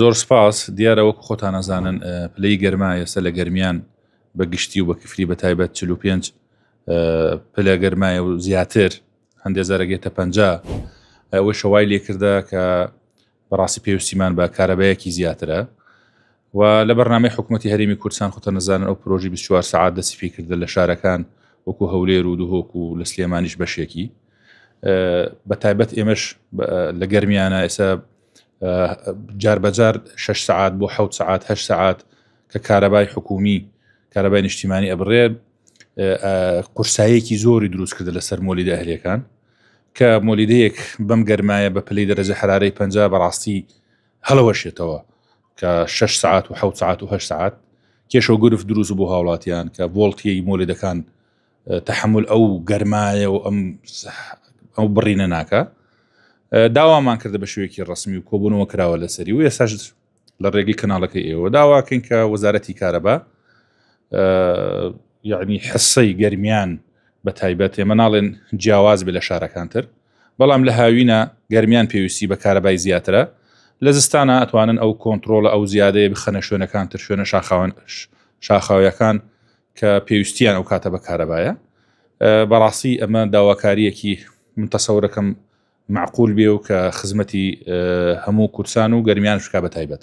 زۆر سپاس، دیارە وەکو خۆتان ئەزانن پلەی گەرما ئێستا لە گەرمیان بە گشتی و بە کفری بە تایبەت 45 پلە گەرمایە و زیاتر هەندێک جارەگێتە پ ئەوەی شەوای لێکردە کە بەڕاستی پێویستیمان بە کارەبایەکی زیاترە و لە بەرنامەی حکوومەتتی هەرمی کوردستان خۆتە نەزانن ئەو پرۆژی 24 سعات دەسیفی کردن لە شارەکان وەکو هەولێر و دهۆک و لە سلێمانیش بەشێکی بە تایبەت ئێمەش لە گەرمیانە ئێستا جار بە جار شەش سەعات بۆ حەوت سەعات هەشت سەعات کە کارەبای حکومی کارەبای نیشتیمانی ئەبڕێ قورسایەکی زۆری دروست کردە لەسەر مۆلی دەهلەکان کە مۆلیدەیەک بەم گەرمایە بە پلی دەرەجە حرارەی پ بەڕاستی هەڵەوەشێتەوە کە 6 ساعت و 6 ساعت و 6 ساعت کێشە و گرفت دروست بۆ هاوڵاتیان کە بۆڵتیەی مۆلیدەکان تەحەمول ئەو گەرمایە و ئەم ئەو بڕینە ناکە داوامان کردە بە شوێکی ڕسمی و کۆبوونەوە کراوە لەسەری و ئێساش لە ڕێگەی کەناڵەکە ئێوە داواکەین کە وەزارەتی کارەبا یعنی حسەی گەرمیان بە تایبەت ئێمە ناڵێن جیاواز بێ لە شارەکانتر بەڵام لە هاوینە گەرمیان پێویستی بە کارەبای زیاترە لە زستانە ئەتوانن ئەو کۆنتترۆڵە ئەو زیادەیە بخەنە شوێنەکانتر شوێنە شاخاوان شاخاویەکان کە پێویستیان ئەو کاتە بە کارەبایە بەڕاستی ئەمە داواکاریەکی من تەسەورەکەم معقول بێ و کە خزمەتی هەموو کورسان و گەرمیان شکا بە تایبەت.